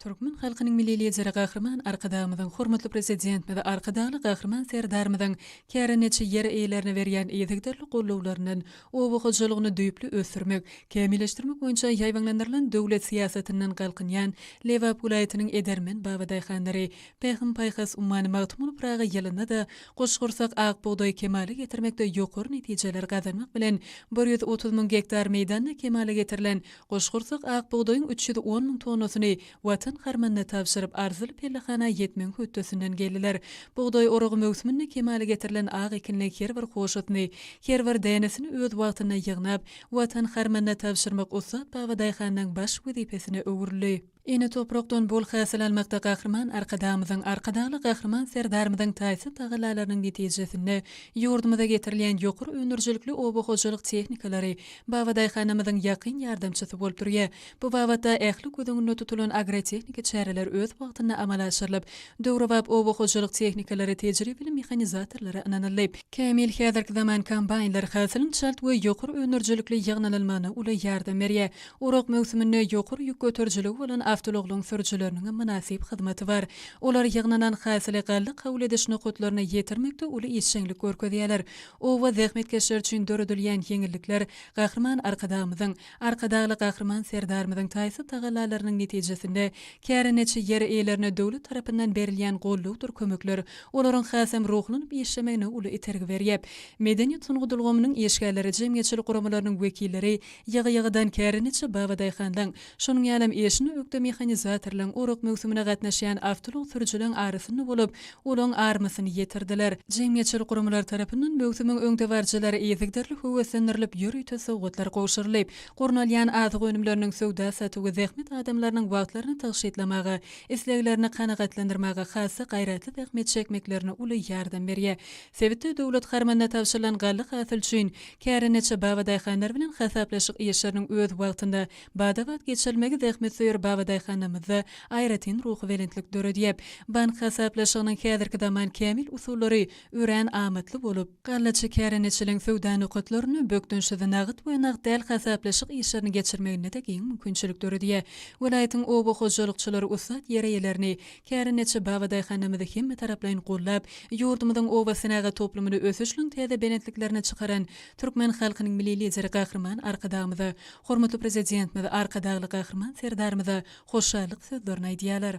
Türkmen halkynyň Milli Lideri Gahryman Arkadagymyzyň, hormatly Prezidentimiz Arkadagly Gahryman Serdarymyzyň kärendeçi ýer eýelerine berýän yzygiderli gollawlaryndan, oba hojalygyny düýpli ösdürmek, kämilleşdirmek boýunça ýaýbaňlandyrylan döwlet syýasatyndan galkynýan Lebap welaýatynyň edermen babadaýhanlary Pähim-paýhas ummany Magtymguly Pyragy ýylynda-da Goçgursak ak bugdaýy kemala getirmekde ýokary netijeleri gazanmak bilen bir ýüz otuz müň gektar meýdanda kemala getirilen Goşgursak ak bugdaýyň üç ýüz on müň tonnasyny Watan harmanyna tabşyryp, arzyly pellehana ýetmegiň hötdesinden geldiler. Bugdaý oragy möwsüminde kemala getirilen ak ekinli her bir hoşasyny, her bir dänesini öz wagtynda ýygnap, Watan harmanyna tabşyrmak ussat babadaýhanyň baş wezipesine öwrüldi. Ene toprakdan bol hasyl almakda Gahryman Arkadagymyzyň, Arkadagly Gahryman Serdarymyzyň taýsyz tagallalarynyň netijesinde ýurdumyza getirilýän ýokary öndürijilikli oba hojalyk tehnikalary Babadaýhanamyzyň ýakyn ýardamçysy bolup durýar. Bu babatda ähli göz öňünde tutulan agrotehniki çäreler öz wagtynda amala aşyrylyp, döwrebap oba hojalyk tehnikalary tejribeli mehanizatorlara ynanyldy. Kämil häzirki zaman kombaýnlar hasylyň çalt we ýokary öndürijilikli ýygnalylmagyna uly ýardam berýär. Orak möwsüminde ýokary ýük göterijiligi bolan awtoulaglaryň sürüjileriniň hem mynasyp hyzmaty bar. Olar ýygnanan hasyly galla kabul ediş nokatlaryna ýetirmekde uly işjeňlik görkezýärler. Oba zähmetkeşleri üçin döredilýän ýeňillikler Gahryman Arkadagymyzyň, Arkadagly Gahryman Serdarymyzyň taýsyz tagallalarynyň netijesinde kärendeçi ýer eýelerine döwlet tarapyndan berilýän gollawdyr kömekler olaryň hasam ruhlanyp işlemegine uly itergi berýär. Medeniýet-sungat ulgamynyň işgärleri, jemgyýetçilik guramalarynyň wekilleri Ýygy-ýygydan kärendeçi babadaýhanlaň, şonuň ýalam eşine ökde mehanizatorlaň orak möwsümine gatnaşýan awtoulag sürüjileň arasynda bolup, olaň armasyny ýetirdiler. Jemgyýetçilik guramalar tarapyndan möwsümiň öňdebaryjylary yzygiderli höweslendirilip, ýörite sowgatlar gowşurylyp, gurnalýan azyk önümleriniň söwda-satywy zähmet adamlarynyň wagtlaryny tygşytlamaga, isleglerini kanagatlandyrmaga hassa gaýratly zähmet çekmeklerine uly ýardam berýär. Sebitde döwlet harmanyna tabşyrylan galla hasyly üçin kärendeçi babadaýhanlar bilen hasaplaşyk işleriniň öz wagtynda, bada-bat geçirilmegi zähmetsöýer babadaýhanlarymyzda aýratyn ruhubelentlik döredýär. Bank hasaplaşygynyň häzirki zaman kämil usullary örän amatly bolup, gallaçy kärendeçiligiň söwda nokatlarynda bökdençsiz nagt we nagt däl hasaplaşyk işlerini geçirmegine-de giň mümkinçilik döredýär. Welaýatyň oba hojalykçylary ussat ýer eýelerini, Kärendeçi Baba daýhanymyzy hemmetaraplaýyn gollap, ýurdumyzyň obasenagat toplumyny ösüşliň täze belentliklerine çykaran türkmen halkynyň Milli Lideri Gahryman Arkadagymyza, hormatly Prezidentimiz Arkadagly Gahryman Serdarymyza hoşallyk sözlerini aýdýarlar.